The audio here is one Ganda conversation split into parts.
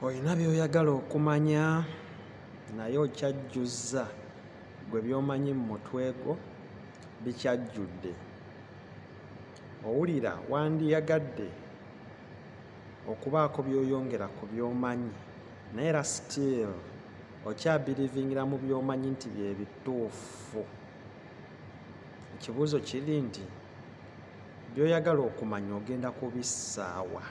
Olina by'oyagala okumanya naye okyajjuzza, ggwe by'omanyi mu mutwe gwo bikyajjudde. Owulira wandiyagadde okubaako by'oyongera ku by'omanyi naye era still okyabirivingira mu by'omanyi nti bye bituufu. Ekibuuzo kiri nti By'oyagala okumanya ogenda kubissaawa?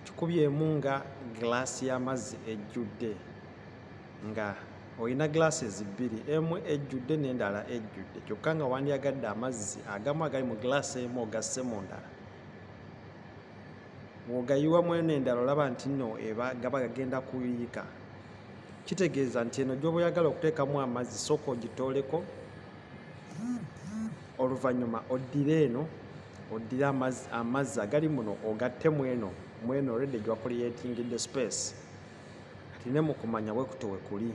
Kikubyemu nga giraasi y'amazzi ejjudde nga olina glasses bbiri emu ejjudde n'endala ejjudde kyokka nga wandyagadde amazzi agamu agali mu glass emu ogasse mu ndala wogayiwa mweno endala olaba nti no eba gaba gagenda kuyiika kitegeeza nti eno gyoba oyagala okuteekamu amazzi sooka ogitooleko oluvannyuma oddire eno oddire amazzi agali muno ogatte mweno mweno redi gwa kuliyetingidde space kati ne mukumanya bwe kuto wekuli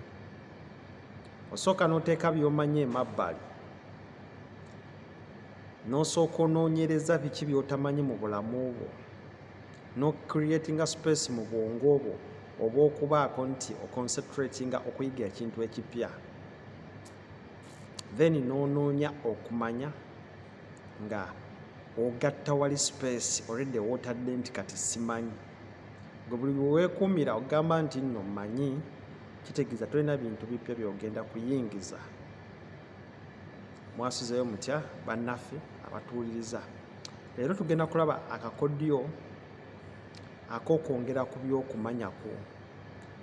osooka n'oteeka by'omanyi emabbali n'osooka onoonyereza biki by'otamanyi mu bulamu bwo n'ocreatinga space mu bwongo bwo oba okubaako nti oconcentratinga okuyiga ekintu ekipya then n'onoonya okumanya nga ogatta wali space already wotadde nti kati simanyi gwe buli bweweekuumira ogamba nti nno manyi kitegeeza tolina bintu bipya byogenda kuyingiza mwasuzeyo mutya bannaffe abatuwuliriza leero tugenda kulaba akakodyo akokwongera ku byokumanya kwo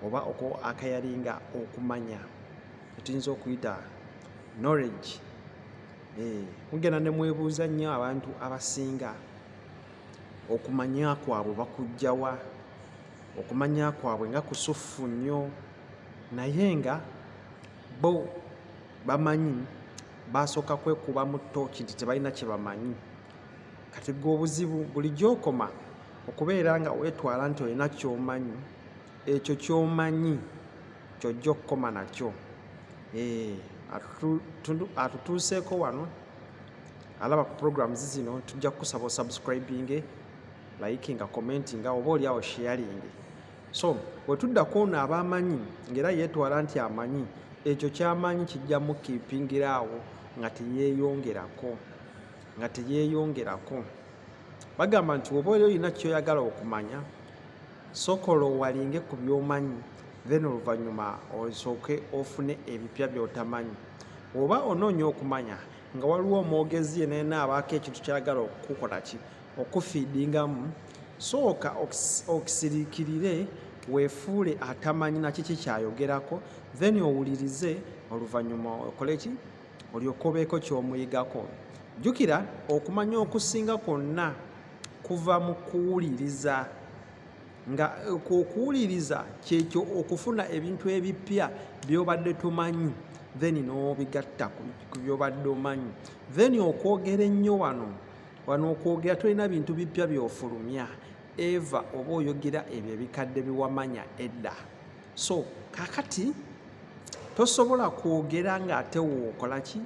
oba akayalinga okumanya etuyinza okuyita knowledge eh, mugenda ne mwebuuza nnyo abantu abasinga okumanya kwabwe bakujjawa okumanya kwabwe nga kusuffu nnyo naye nga bo bamanyi basooka kwekuba mu tooki nti tebalina kye bamanyi kati gwe obuzibu bulijjo okoma okubeera nga weetwala nti olina kyomanyi Ekyo ky'omanyi ky'ojja okukoma nakyo. Eh, atutuuseeko wano alaba ku programs zino tujja kukusaba osubscribinge likinga commentinga oba oli awo sharinge so wetuddako ono aba amanyi ngaera yetwala nti amanyi ekyo kyamanyi kijja mukipingira awo nga teyeyongerako nga teyeyongerako bagamba nti oba oli olina kyoyagala okumanya Sokola owalinge ku byomanyi then oluvanyuma osooke ofune ebipya byotamanyi. Woba onoonya okumanya nga waliwo omwogezi yena yena abaako ekintu kyagala okukukolaki okufidingamu sooka okisirikirire wefuule atamanyi nakiki kyayogerako then owulirize oluvanyuma okoleki olyoke obeeko kyomuyigako. Jukira okumanya okusinga kwonna. kuva mu kuwuliriza nga okuwuliriza kyekyo okufuna ebintu ebippya byobadde tomanyi then n'obigatta ku byobadde omanyi then okwogera ennyo wano wano okwogera tolina bintu bippya byofulumya eva oba oyogera ebyo ebikadde biwamanya edda so kakati tosobola kwogera ng'ate wookola ki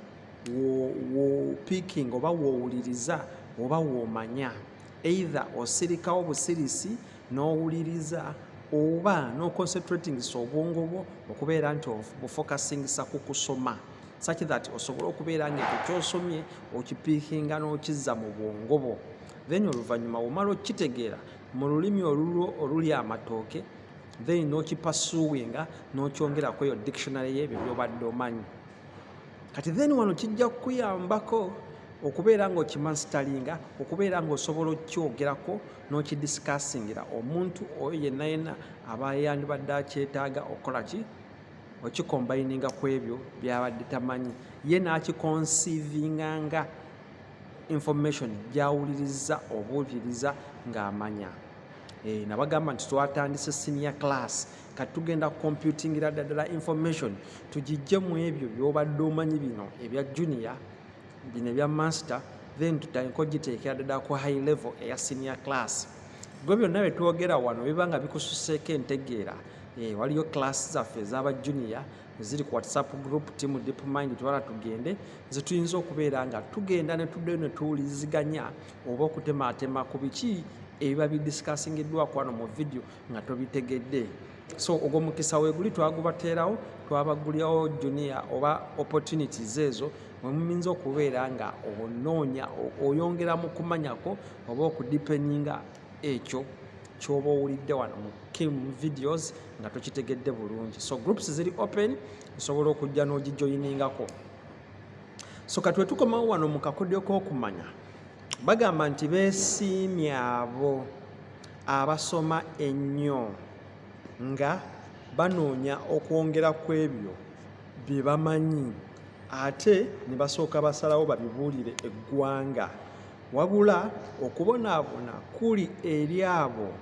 wopiking oba wowuliriza oba womanya either osirikawo busirisi n'owuliriza oba noconcentratingisa obwongo bwo okubeera nti bufocusingisa ku kusoma such that osobole okubeera nga ekyo kyosomye okipiikinga n'okizza mu bwongo bwo then oluvannyuma womala okukitegeera mu lulimi olulwo oluli amatooke then nokipasuwinga nokyongera kweyo dictionary yebyo byobadde omanyi kati then wano kijja kukuyambako okubeera nga okimansitalinga okubeera nga osobola okukyogerako n'okidisikasingira omuntu oyo yenna yenna aba yandibadde akyetaaga okukola ki okikombayininga ku ebyo byabadde tamanyi ye n'akikonsiivinga nga information gyawuliriza obuuliriza ng'amanya eh, nabagamba nti twatandise sinior class kati tugenda computingira ddala information tugijje mu ebyo byobadde omanyi bino ebya junior bino ebya master then tutandika ogiteekera ddala ku high level eya senior class gwe byonna bye twogera wano biba nga bikususeeko entegeera eh, waliyo class zaffe ezaba junior eziri ku whatsapp group team deep mind twala tugende zetuyinza okubeera nga tugenda netuddeyo netuwuliziganya oba okutemaatema ku biki ebiba bidisikasingiddwako wano mu vidiyo nga tobitegedde so ogwo mukisa weguli twagubateerawo twabagulirawo junia oba opportunities ezo mwemuminza okubeera nga onoonya oyongera mu kumanyako oba okudipeninga ekyo kyoba owulidde wano mu kim videos nga tokitegedde bulungi so groups ziri open osobola okujja n'ogijoyiningako so katwe tukomawo wano mu kakodyo k'okumanya bagamba nti besiimye abo abasoma ennyo nga banoonya okwongera ku ebyo bye bamanyi ate ne basooka basalawo babibuulire eggwanga wabula okubonaabona kuli eri abo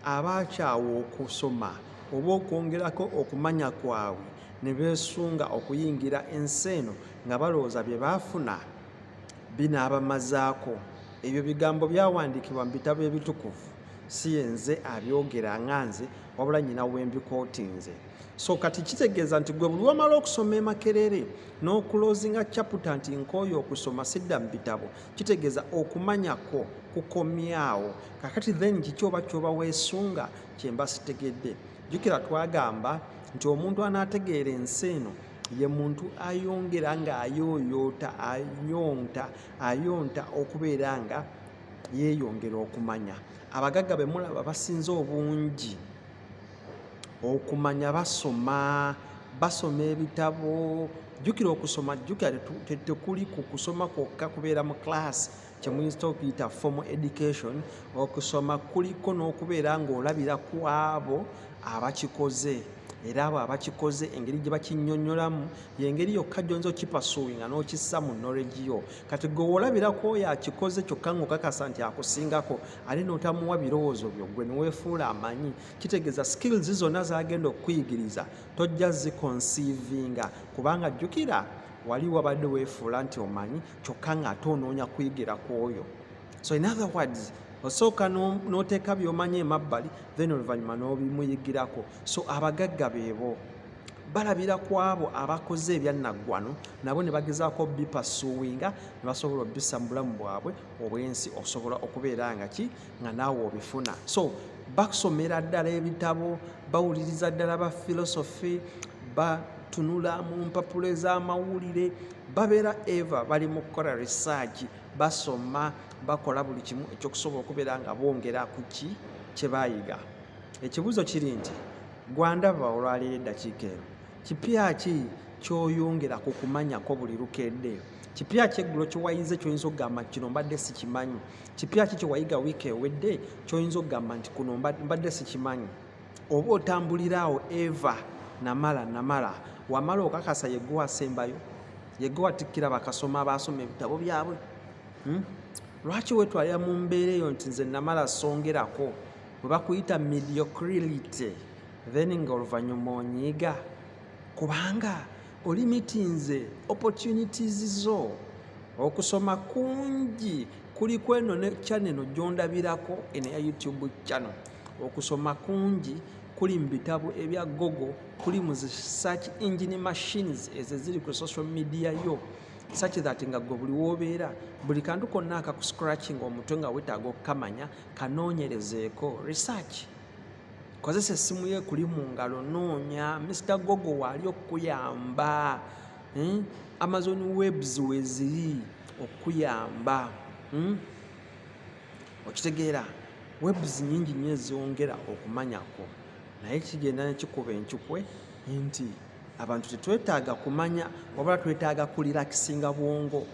abaakyawa okusoma oba okwongerako okumanya kwabwe ne beesunga okuyingira ensi eno nga balowooza bye baafuna binaabamazaako. Ebyo bigambo byawandiikibwa mu bitabo ebitukuvu, si yenze abyogera nga nze, wabula nnyina we mbikootinze. So kati kitegeeza nti gwe buli wamala okusoma emakerere n'okuloozinga caputa nti nkooye okusoma sidda mu bitabo, kitegeeza okumanya kwo kukomyawo. Kakati then kiki oba kyoba weesunga kye mba sitegedde? Jjukira twagamba nti omuntu anaategeera ensi eno ye muntu ayongera ng'ayooyoota ayonta ayonta okubeera nga yeeyongera okumanya abagagga be mulaba basinze obungi okumanya basoma basoma ebitabo jjukira okusoma jjukira tekuli ku kusoma kwokka kubeera mu class kyemuyinza okuyita formal education okusoma kuliko n'okubeera ng'olabira ku abo abakikoze era abo abakikoze engeri gye bakinyonyolamu yengeri yokka gyonza okipasuwinga n'okissa mu knowledge yo kati gwe woolabirako oyo akikoze kyokka ngaokakasa nti akusingako ate n'otamuwa birowoozo byo gwe neweefuula amanyi kitegeeza skills zonna zagenda okukuyigiriza tojja zikonsiivinga kubanga jjukira wali wabadde weefuula nti omanyi kyokka ng'ate onoonya kuyigira ku oyo so in other words osooka n'oteeka by'omanyi emabbali then oluvannyuma n'obimuyigirako so abagagga beebo balabira ku abo abakoze ebyannaggwano nabo ne bagezaako bipasuwinga ne basobola obisa mu bulamu bwabwe obwensi okusobola okubeera nga ki nga naawe obifuna so bakusomera ddala ebitabo bawuliriza ddala ba philosophy batunula mu mpapula ez'amawulire babeera eva bali mu kukola research basoma bakola buli kimu ekyokusobola okubeera nga bongera ku ki kye baayiga ekibuuzo kiri nti gwandaba olwaleero eddakiika eno kipya ki kyoyongera ku kumanyako buli lukedde kipya kyeggulo kyewayize kyoyinza okugamba kino mbadde sikimanyi kipya ki kyewayiga wiiki ewedde kyoyinza okugamba nti kuno mbadde sikimanyi oba otambulira awo eva namala namala wamala okakasa yegowa asembayo yegowa tikkira bakasoma abaasoma ebitabo byabwe hmm? lwaki wetwalira mu mbeera eyo nti nze namala songerako bwe bakuyita mediocrility then nga oluvannyuma onyiiga kubanga olimitinze opportunities zo okusoma kungi kuli kweno ne chaneno gyondabirako eno ya youtube channel okusoma kungi kuli mu bitabo ebya gogo kuli mu zi search engine machines ezo eziri ku social media yo such that nga gwe buli wobeera buli kantu konna akakuscratching omutwe nga wetaaga okukamanya kanoonyerezeeko research kozesa essimu yo ekuli mu ngalo noonya mr gogo waali okukuyamba hmm? amazon webs weziri okukuyamba hmm? okitegeera webs nyingi nyo ezongera okumanyako naye kigenda nekikuba enkikwe nti abantu tetwetaaga kumanya wabula twetaaga kulirakisinga bwongo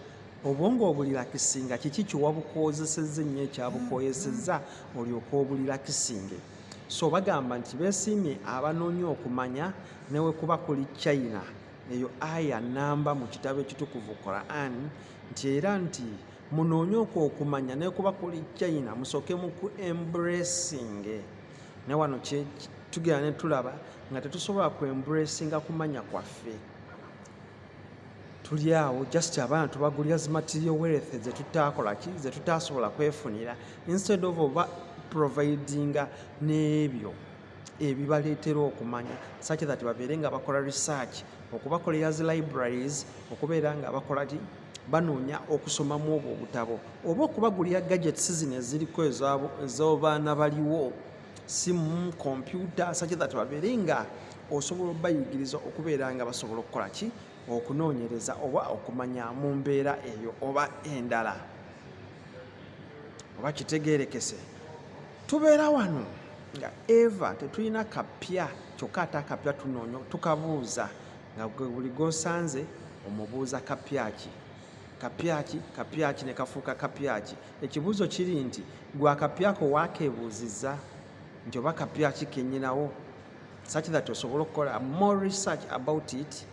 obwongo obulilakisinga kiki kyewabukozeseza ennyo ekyabukoyeseza olyoka obulilakisinge so bagamba nti besiimye abanoonya okumanya newekuba kuli china eyo aya namba mu kitabo ekitukuvu quran nti era nti munoonye okwo okumanya nekuba kuli china musooke mu ku embracing ne wano tugenda ne tulaba nga tetusobola ku embracing kumanya kwaffe tuli awo just abaana tubagulira zi material wealth zetutakolaki zetutasobola kwefunira instead of oba providinga n'ebyo ebibaleetera okumanya such that babeere nga bakola research okubakolera zi libraries okubeera nga bakola ki banoonya okusomamu obwo obutabo oba okubagulira gadgets zino eziriko ez'obaana baliwo simu kompyuta such that babeere nga osobola obayigiriza okubeera nga basobola okukola ki okunoonyereza oba okumanya mu mbeera eyo oba endala oba kitegeerekese tubeera wano nga eva tetulina kapya kyokka ate akapya tunoonya tukabuuza nga buli gwosanze omubuuza kapyaki kapyaki kapyaki ne kafuuka kapyaki Ekibuuzo kiri nti gwe akapyako waakeebuuzizza nti oba kapya ki kenyinawo such that osobola okukola more research about it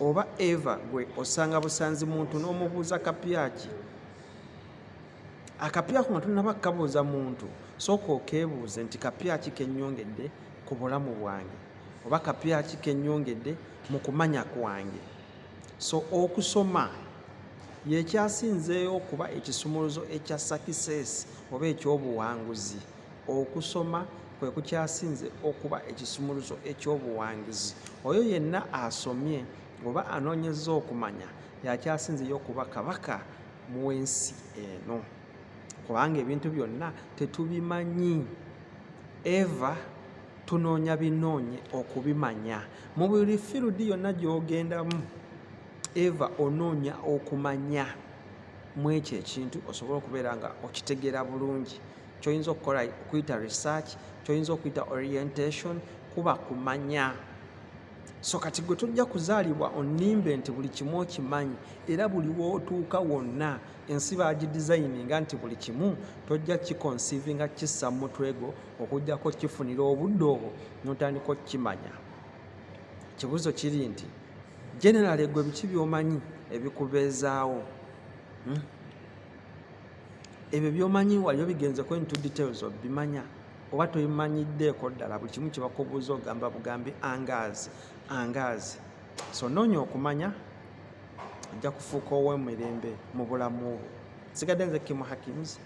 oba eva gwe osanga busanzi muntu n'omubuuza kapya ki akapya kuno tunaba kukabuuza muntu sooka okeebuuze nti kapya ki kenyongedde ku bulamu bwange oba kapya ki kenyongedde mu kumanya kwange So okusoma yekyasinzeeyo okuba ekisumuluzo ekya sakiseesi oba eky'obuwanguzi. Okusoma kwe kukyasinze okuba ekisumuluzo eky'obuwangizi. Oyo yenna asomye oba anoonyezza okumanya y'akyasinzeyo okuba kabaka mu w'ensi eno kubanga ebintu byonna tetubimanyi eva tunoonya binoonye okubimanya mu buli firudi yonna gy'ogendamu eva onoonya okumanya mu ekyo ekintu osobole okubeera nga okitegeera bulungi kyoyinza okukola okuyita research kyoyinza okuyita orientation kuba kumanya so kati gwe tojja kuzaalibwa onimbe nti buli kimu okimanyi era buli wootuuka wonna ensi bagidizayininga nti buli kimu tojja kikonsiivinga kissa mu mutwe gwo okujjako okifunira obudde obwo notandika okukimanya ekibuzo kiri nti general egwe biki byomanyi ebikubeezaawo hmm? ebyo byomanyi waliyo bigenzeko into details obimanya oba tobimanyiddeeko ddala buli kimu kyebakubuuza ogamba bugambi angaazi angaazi so noonya okumanya ajja kufuuka ow'emirembe mu bulamu bwo sigadde nze kimu hakims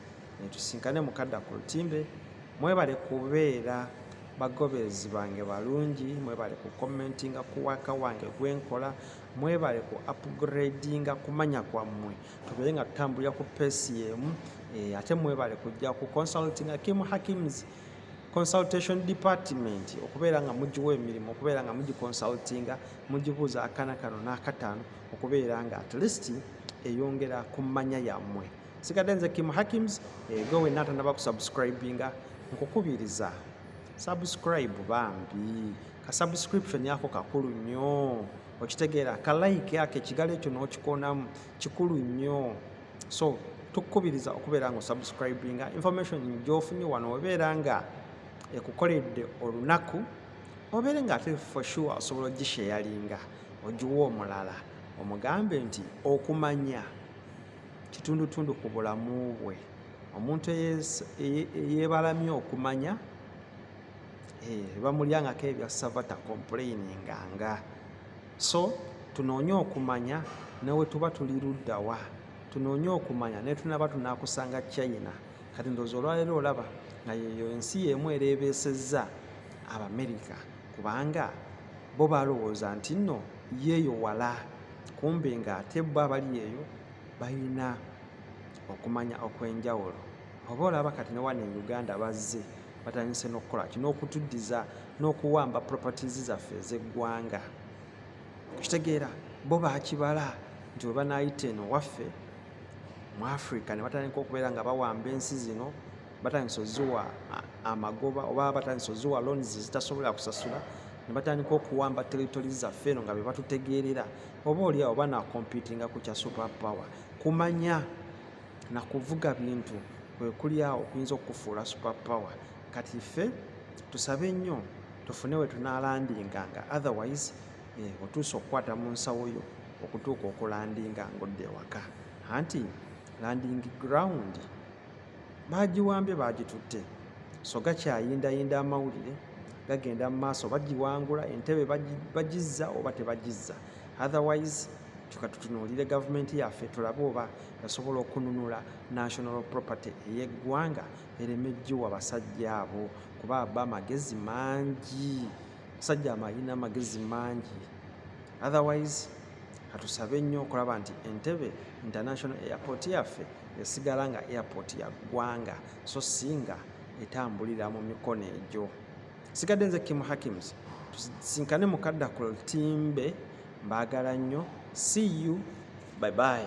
netusinkane mukadda ku lutimbe mwebale kubeera bagoberezi bange balungi mwebale ku commentinga ku waka wange gwenkola mwebale ku upgradinga kumanya kwammwe tubeere nga tutambulira ku pesi yemu eh, ate mwebale kujja ku consultinga kim hakims consultation department okubeera nga mugiwa emirimu okubeera nga mugiconsultinga mugibuuza akana kano n'akataano okubeera nga at least eyongera ku mmanya yammwe sigadde nze kim hakims eh, gwe wenna atanaba kusubscribinga nkukubiriza subscribe bambi ka subscription yako kakulu nnyo okitegeera ka like ako ekigalo ekyo n'okikonamu kikulu nnyo so tukukubiriza okubeera nga osubscribinga information gyofunye wano obeera nga ekukoledde olunaku obeere nga ate for sure osobola ogisheyalinga ogiwa omulala omugambe nti okumanya kitundutundu ku bulamu bwe omuntu eyebalamye okumanya eh, bamulyangako ebyassava takomplaininga nga so tunoonye okumanya nawe tuba tuli luddawa tunoonye okumanya naye tunaba tunakusanga china kati ndoozi olwaleero olaba nga yeyo ensi yemu ereebeesezza abamerika kubanga bo balowooza nti nno yeeyo wala kumbe ng'ate bo abali eyo balina okumanya okw'enjawulo oba olaba kati ne wano e uganda bazze batandise n'okukola ki n'okutuddiza n'okuwamba properties zaffe ez'eggwanga okitegeera bo bakibala nti we banaayita eno waffe mu africa ne batandika okubeera nga bawamba ensi zino batandise oziwa amagoba oba batandise oziwa loans zitasobola kusasula ne batandika okuwamba territory zaffe eno nga be batutegeerera oba oliawo oba nakomputinga ku kya super power kumanya na kuvuga bintu kwekuli awo okuyinza okukufuula super power kati ffe tusabe nnyo tufune we tunalandinga nga otherwise eh, otuusa okukwata mu nsawo yo okutuuka okulandinga ng'odda ewaka anti landing ground baagiwambye baagitutte so gakyayindayinda amawulire gagenda mu maaso bagiwangula entebe bagizza oba tebagizza otherwise kyoka tutunuulire gavumenti yaffe tulabe oba yasobola okununula national property ey'eggwanga ereme giwa basajja abo kuba aba amagezi mangi musajja amalina amagezi mangi otherwise katusabe nnyo okulaba nti entebe international airport yaffe esigala nga airport ya ggwanga so singa etambulira mu mikono egyo sigadde nze kim hakims tusinkane mukadda ku ltimbe mbaagala nnyo see you bye bye